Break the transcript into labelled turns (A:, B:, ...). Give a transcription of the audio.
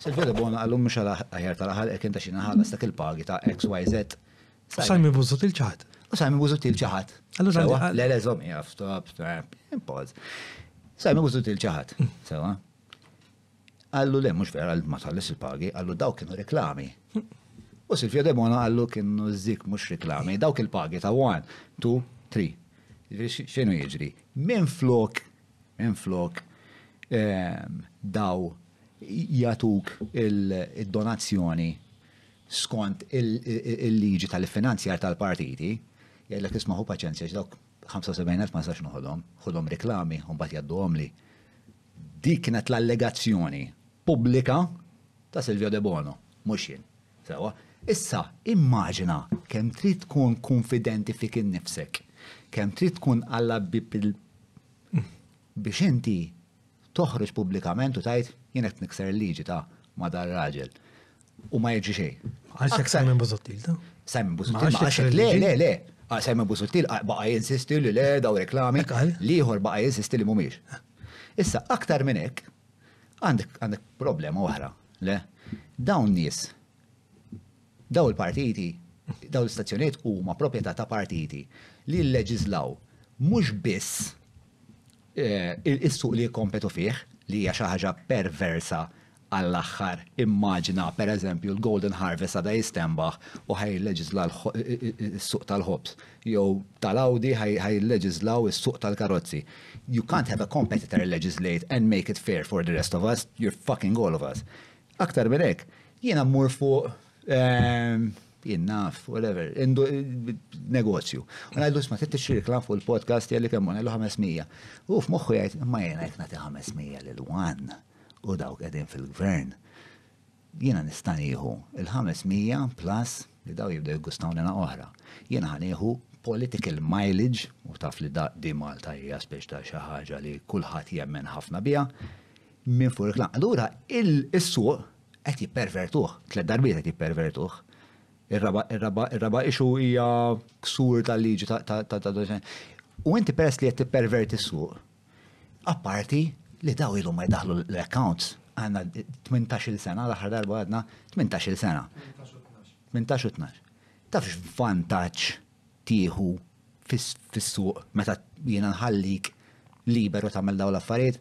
A: Silvio Debono qallu mhux għal aħjar tal-aħħar hekk inta xi naħallas dak il-pagi ta' XYZ. U Simon Busuttil ċaħad. U Simon Busuttil ċaħad. Allura le le żomm jaf stop, impoz. Simon Busuttil ċaħad. Mm. Sewa. Qallu le mhux vera ma tħallis il-pagi, qallu daw kienu reklami. U Silvio Demona qallu kienu zik mhux reklami, dawk il-pagi ta' 1, 2, 3. X'inhu jiġri? Minn flok, minn flok ehm, daw jagħtuk id-donazzjoni skont il-liġi tal-iffinanzjar tal-partiti, jgħidlek isma' ħu paċenzja x'dawk 75,000 ma nistax noħodhom, ħudhom riklami u mbagħad jgħadduhomli. Dik kienet l-allegazzjoni pubblika ta' Silvio Debono, mhux jien. Sewwa? Issa, immaġina kemm trid tkun kunfidenti fik innifsek, kemm trid tkun Alla biex inti toħroġ pubblikament u tgħid jien qed nikser il-liġi ta' ma' dar raġel u ma jiġri xejn. Għalxek Simon Busuttil ta? Simon Busuttil ma għaxek le, le, le. Ah, Simon Busuttil ah, baqa jinsisti li le daw reklami, liħor baqa jinsisti li mumiex. Issa, aktar minn hekk, għandek problema oħra, le? Dawn nies, daw il-partiti, daw l-istazzjoniet huma proprjetà ta' partiti li l-leġizlaw mhux biss is-suq li jikkompetu fih, li hija xi ħaġa perversa għall-aħħar, immaġina, pereżempju, l-Golden Harvest għada jistenbaħ u ħa jilleġiżla s-suq tal-ħobż, jew tal-Audi ħa jilleġiżlaw is-suq tal-karozzi. You can't have a competitor legislate and make it fair for the rest of us, you're fucking all of us. Aktar minn hekk, jiena mmur fuq, jien naf, whatever, negozju. U ngħidlu, isma' trid tixtri reklam fuq il-podcast jgħidli kemm ngħidlu 500. U f'moħħu jgħid, imma jiena jekk nagħti 500 lil one u dawk qegħdin fil-gvern, jiena nista' nieħu l-500 plus li dawn jibdew jiggustaw nagħna oħra. Jiena ħa nieħu political mileage, u taf li din Malta hija speċi ta' xi ħaġa li kulħadd jemmen ħafna biha, minn fuq il-klam. Allura is-suq qed jippervertuh, tliet darbiet qed jippervertuh. Ir-raba' issue hija ksur tal-liġi ta' U inti peress li qed tipperverti s-suq, apparti li daw ilhom ma jdaħlu l-accounts għandna 18-il sena l-aħħar darba għadna 18-il sena. 18 u 12. Tafx vantaġġ tieħu fis-suq meta jiena nħallik liberu tagħmel dawn l-affarijiet.